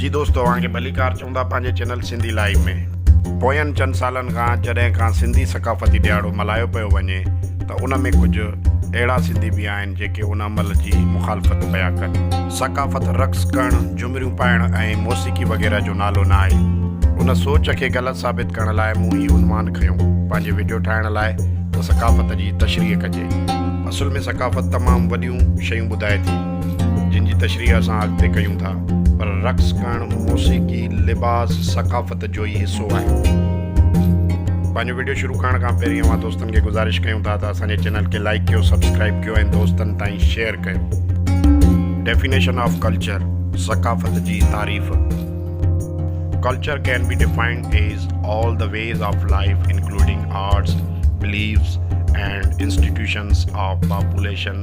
جي دوست اوهان کي ڀليڪار چئون ٿا پنهنجي چينل سنڌي لائيو ۾. پوين چند سالن کان جڏهن کان سنڌي ثقافتي ڏيهاڙو ملهايو پيو وڃي ته ان ۾ ڪجهه اهڙا سنڌي به آهن جيڪي ان عمل جي مخالفت پيا ڪن. ثقافت رقص ڪرڻ، جهمريون پائڻ ۽ موسيقي وغيره جو نالو نه آهي. ان سوچ کي غلط ثابت ڪرڻ لاء مون هي عنوان کنيو. پنهنجي وڊيو ٺاهڻ لاء ته ثقافت جي تشريح ڪجي. اصل ۾ ثقافت تمام وڏيون شيون ٻڌائي ٿي. جن جي تشريح اسان اڳتي ڪيون ٿا پر رقص ڪرڻ موسيقي، لباس، ثقافت جو ئي حصو آهي. پنهنجو وڊيو شروع ڪرڻ کان پهرين اوهان دوستن کي گذارش ڪيون ٿا ته اسان جي چينل کي لائيڪ ڪيو، سبسڪرائيب ڪيو ۽ دوستن تائين شيئر ڪيو. Definition of Culture، ثقافت جي تعريف، Culture can be defined as all the ways of life including arts, beliefs and institutions of population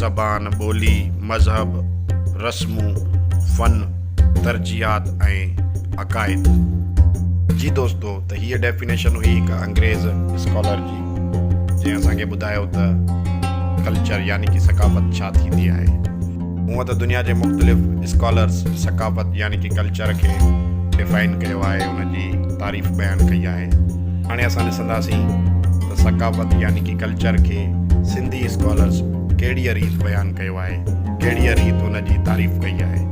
زبان، ٻولي، مذهب، رسمون، فن، ترجيحات ۽ عقائد. جي دوستو ته هيء ڊيفينيشن هئي هڪ انگريز اسڪالر جي جنهن اسان کي ٻڌايو ته ڪلچر يعني ڪي ثقافت ڇا ٿيندي آهي. هونء ته دنيا جي مختلف اسڪالرز ثقافت يعني ڪي ڪلچر کي ڊيفائن ڪيو آهي ان جي تعريف بيان ڪئي آهي هاڻي اسان ڏسنداسين ته ثقافت يعني ڪي ڪلچر. چر کي سنڌي اسڪالرز ڪهڙيء ريت بيان ڪيو آهي، ڪهڙيء ريت ان جي تعريف ڪئي آهي.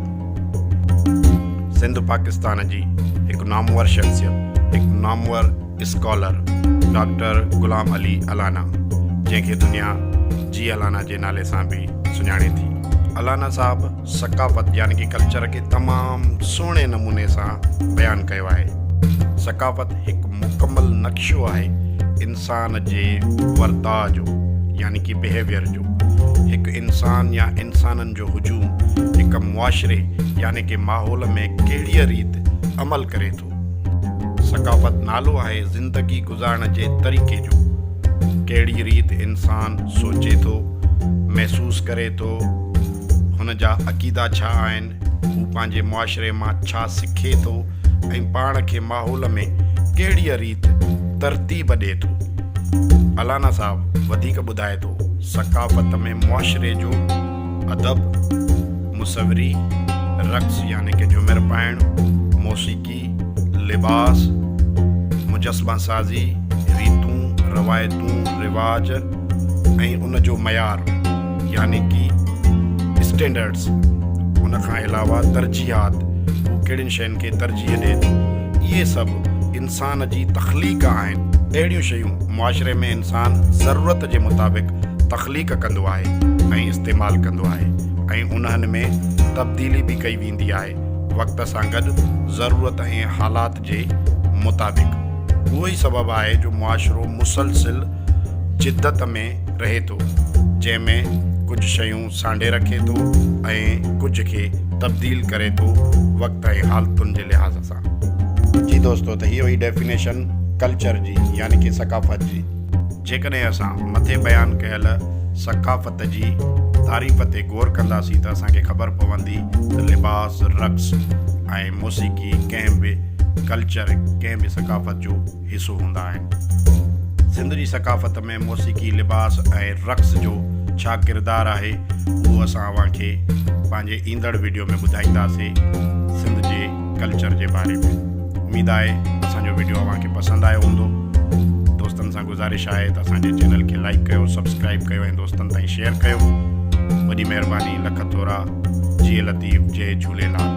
سنڌ پاڪستان جي هڪ نامور شخصيت، هڪ نامور اسڪالر ڊاڪٽر غلام علي الانا جنهن کي دنيا جي الانا جي نالي سان به سڃاڻي ٿي. الانا صاحب! ثقافت يعني ڪي ڪلچر کي تمام سهڻي نموني سان بيان ڪيو آهي. ثقافت هڪ مڪمل نقشو آهي انسان جي ورتاء جو يعني ڪي بيهيويئر جو. هڪ انسان يا انسانن جو هجوم هڪ معاشري يعني ڪي ماحول ۾ ڪهڙيء ريت عمل ڪري ٿو. ثقافت نالو آهي زندگي گذارڻ جي طريقي جو، ڪهڙي ريت انسان سوچي ٿو، محسوس ڪري ٿو، هن جا عقيدا ڇا آهن، هو پنهنجي معاشري مان ڇا سکي ٿو ۽ پاڻ کي ماحول ۾ ڪهڙيء ريت ترتيب ڏئي ٿو. الانا صاحب وڌيڪ ٻڌائي ٿو، ثقافت ۾ معاشري جو. ادب، مصوري، رقص يعني ڪي جهومر پائڻ، موسيقي، لباس، مجسمه سازي، ريتون، روايتون، رواج ۽ ان جو معيار يعني ڪي اسٽينڊرڊز ان کان علاوه ترجيحات هو ڪهڙين شين کي ترجيح ڏئي ٿو اهي سڀ انسان جي تخليق آهن. اهڙيون شيون معاشري ۾ انسان ضرورت جي مطابق تخليق. تخليق ڪندو آهي ۽ استعمال ڪندو آهي ۽ انهن ۾ تبديلي به ڪئي ويندي آهي وقت سان گڏ ضرورت ۽ حالات جي مطابق اهو ئي سبب آهي جو معاشرو مسلسل جدت ۾ رهي ٿو جنهن ۾ ڪجهه شيون سانڍي رکي ٿو ۽ ڪجهه کي تبديل ڪري ٿو وقت ۽ حالتن جي لحاظ سان. جي دوستو ته هيء هئي ڊيفينيشن ڪلچر جي يعني ڪي ثقافت جي. جيڪڏهن اسان مٿي بيان ڪيل ثقافت جي تعريف تي غور ڪنداسين ته اسان کي خبر پوندي ته لباس، رقص ۽ موسيقي ڪنهن به ڪلچر، ڪنهن به ثقافت جو حصو هوندا آهن. سنڌ جي ثقافت ۾ موسيقي، لباس ۽ رقص جو ڇا ڪردار آهي اهو اسان اوهان کي پنهنجي ايندڙ وڊيو ۾ ٻڌائينداسين. سنڌ جي. ڪلچر جي باري ۾ اميد آهي اسان جو ويڊيو اوهان کي پسند آيو هوندو دوستن سان گذارش آهي ته اسان جي چينل کي لائڪ ڪيو سبسڪرائب ڪيو ۽ دوستن تائين شيئر ڪيو وڏي مهرباني لک ٿورا جي لطيف جي جهوليلال